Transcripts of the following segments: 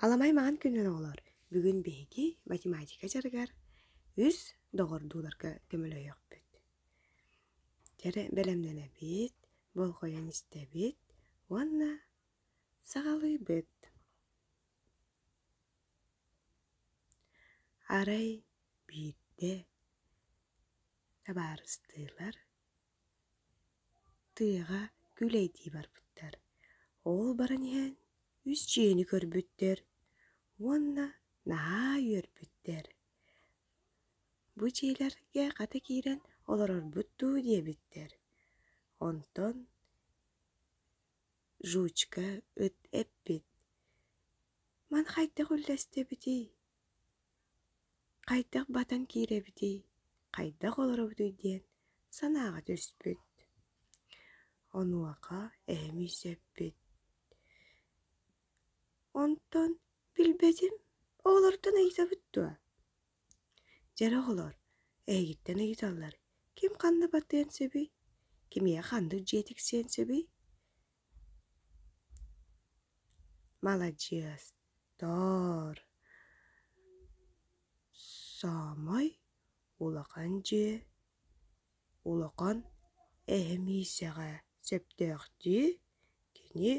Аламай маҥан күннэр оҕолор бүгүн биһиги математика дьарыгар үс доҕордууларга көмөлөһүөхпүт. Дьэ бэлэмнэнэбит, болҕойон истэбит уонна саҕалыыбыт. Арай биирдэ табаарыстыылар Тыаҕа күлэйдии барбыттар, ол баран иһэн үс дьиэни көрбүттэр уонна наһаа үөрбүттэр: «Бу дьиэлэргэ хата киирэн олорорбут дуу?» диэбиттэр. Онтон жучка ыт эппит: «Маны хайдах үллэстэбитий?» Хайдах батан киирэбитий, хайдах олоробутуй диэн санааҕа түспүт. Онуоха эһэм үсэппит. Онтон билбэтим оҕолортон ыйытабыт дуо? Дьэр оҕолор эһигиттэн ыйыталлар: ким ханна батыан сөбүй, кимиэхэ ханнык дьиэ тиксиэн сөбүй? маладьыастар саамай улахан дьиэ улахан эһэмиисэҕэ сөптөөх дии кини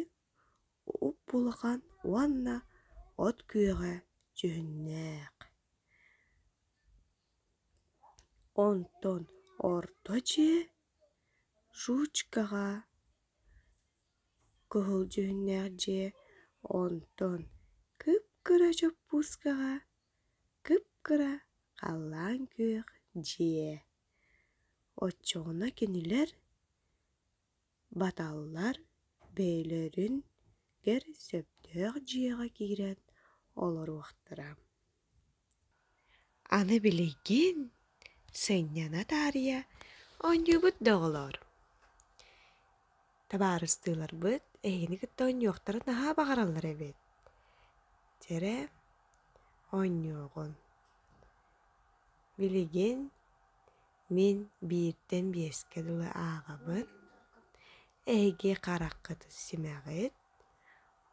уп-улахан уонна от күөҕэ дьүһүннээх онтон орто дьиэ жучкаҕа Кыһыл дьүһүннээх дьиэ онтон кып-кыра чоппуускаҕа кып-кыра халлаан күөх дьиэ. Оччоҕуна кинилэр баталлар бэйэлэрин кэр сөптөөх дьиэҕэ киирэн олоруохтара. Аны билигин сынньана таарыйа оонньуубут да оҕолоор табаарыстыыларбыт эһиги кытта оонньуохтара наһаа баҕараллар эбит дьэрэ оонньуоҕун билигин мин бииртэн биэскэ дылы ааҕабын эһиги хараххытыт симэҕит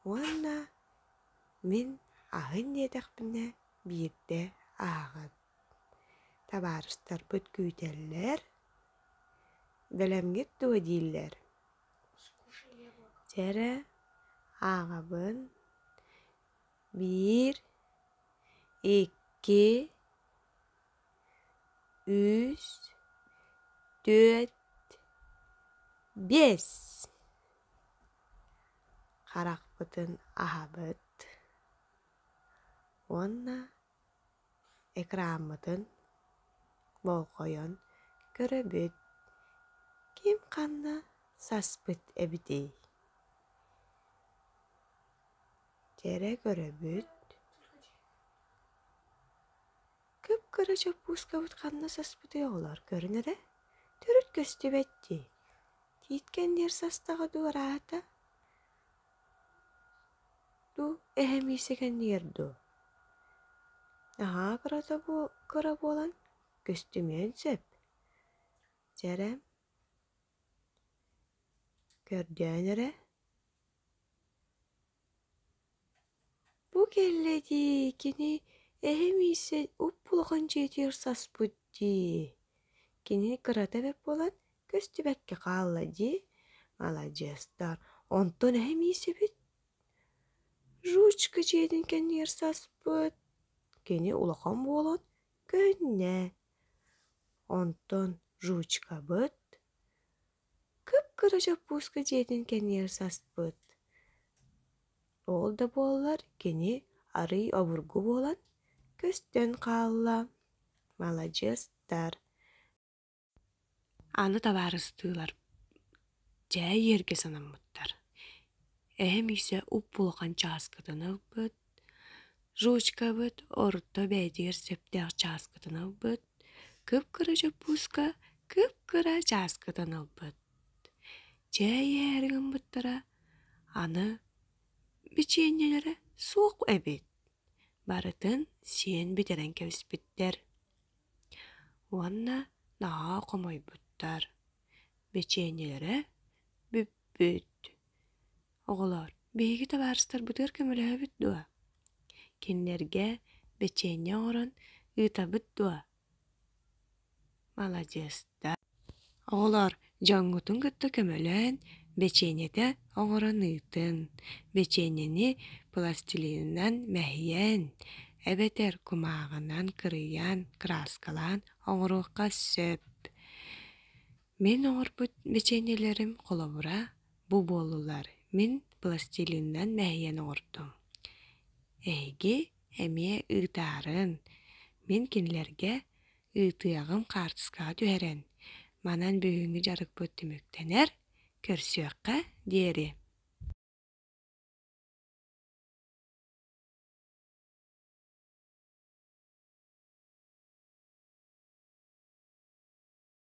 уонна Мин аһын диэтэхпинэ биирдэ ааҕан. Табаарыстарбыт күүтэллэр, бэлэмҥит дуо дииллэр. Дьэ эрэ ааҕабын. Биир, икки, үс, түөрт, биэс. харахпытын аһабыт уонна экраммытын болҕойон көрөбүт ким ханна саспыт эбитий кэрэ көрөбүт Кып-кыра чоппуускабыт ханна саспытый оҕолоор, көрүн эрэ. Төрүт көстүбэт дии. Тииткэн диэр састаҕа дуу арааһата? Дуу, эһэм иисэкэннигэр дуу? Наһаа кырата бу кыра буолан, көстүмүөн сөп. Дьэрэ, көрдөөн эрэ. бу кэллэ дии кини эһэм иирсэ уп-улахан дьиэтигэр саспыт дии кини кырата эбит буолан көстүбэккэ хаалла дии маладьыастар онтон эһэм иирсэбит жучка дьиэтин кэннигэр саспыт кини улахан буолан көннө онтон жучкабыт кып-кыра чоппууска дьиэтин кэннигэр саспыт. Ол да буоллар кини арыый обургу буолан көстөн хаалла. Маладьыастар. Аны табаарыстыылар дьэ иэргэ санаммыттар. Эһэм иисэ уп-улахан чааскытын ылбыт, Жучкабыт орто бэйэтигэр сөптөөх чааскытын ылбыт, кып-кыра чоппууска кып-кыра чааскытын ылбыт. Чэй иһээри гыммыттара, аны бичиэнньэлэрэ суох эбит. Барытын сиэн бүтэрэн кэбиспиттэр. Уонна наһаа хомойбуттар. Бичиэнньэлэрэ бүппүт. Оҕолоор, биһиги табаарыстарбытыгар көмөлөһөбүт дуо? Кинилэргэ бэчиэнньэ оҥорон ыытабыт дуо? Маладьыастар! Оҕолоор, дьоҥҥутун кытта көмөлөөн, бэчиэнньэтэ оҥорон ыытыҥ. Бэчиэнньэни пластилинынан мэһийэн, эбэтэр кумааҕынан кырыйан, краскалаан оҥоруохха сөп. Мин оҥорбут бэчиэнньэлэрим холобура бу буоллулар. Мин пластилинынан мэһийэн оҥордум. Эһиги эмиэ ыытаарыҥ. Мин кинилэргэ ыытыаҕым хаартыскаҕа түһэрэн. Манан бүгүҥҥү дьарыкпыт түмүктэнэр, көрсүөххэ диэри.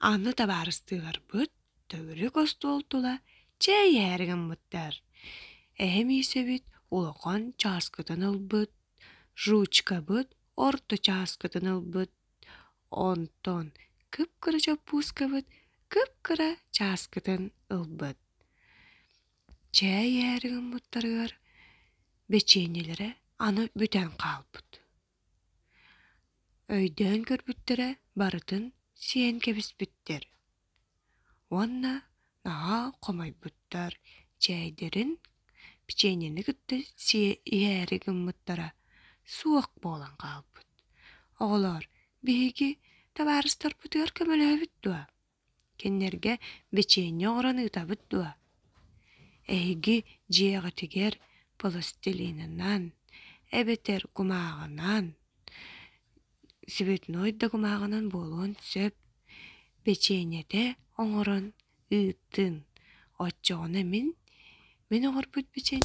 Анны табаарыстыыларбыт төгүрүк остуол тула чээйээри гыммыттар. Эһэм иисэбит улахан чааскытын ылбыт, жучкабыт орто чааскытын ылбыт, Онтон кып-кыра чоппуускабыт кып-кыра чааскытын ылбыт. Чээй ээри гыммыттарыгар бэчиэнньэлэрэ аны бүтэн хаалбыт. Өйдөөн көрбүттэрэ барытын сиэн кэбиспиттэр Уонна наһаа хомойбуттар, чээйдэрин, печеньени кытта сиэ иһээри гыммыттара суох буолан хаалбыт. Оҕолоор, биһиги табаарыстарбытыгар көмөлөһөбүт дуо? Кинилэргэ печенье оҥорон ыытабыт дуо? Эһиги дьиэҕитигэр пластилинынан, эбэтэр кумааҕынан Цветной дагымаҕынан буолуон сөп. Печеньете оҥорон ыыттын. Оччоҕуна мин мин оҥорбут печеньем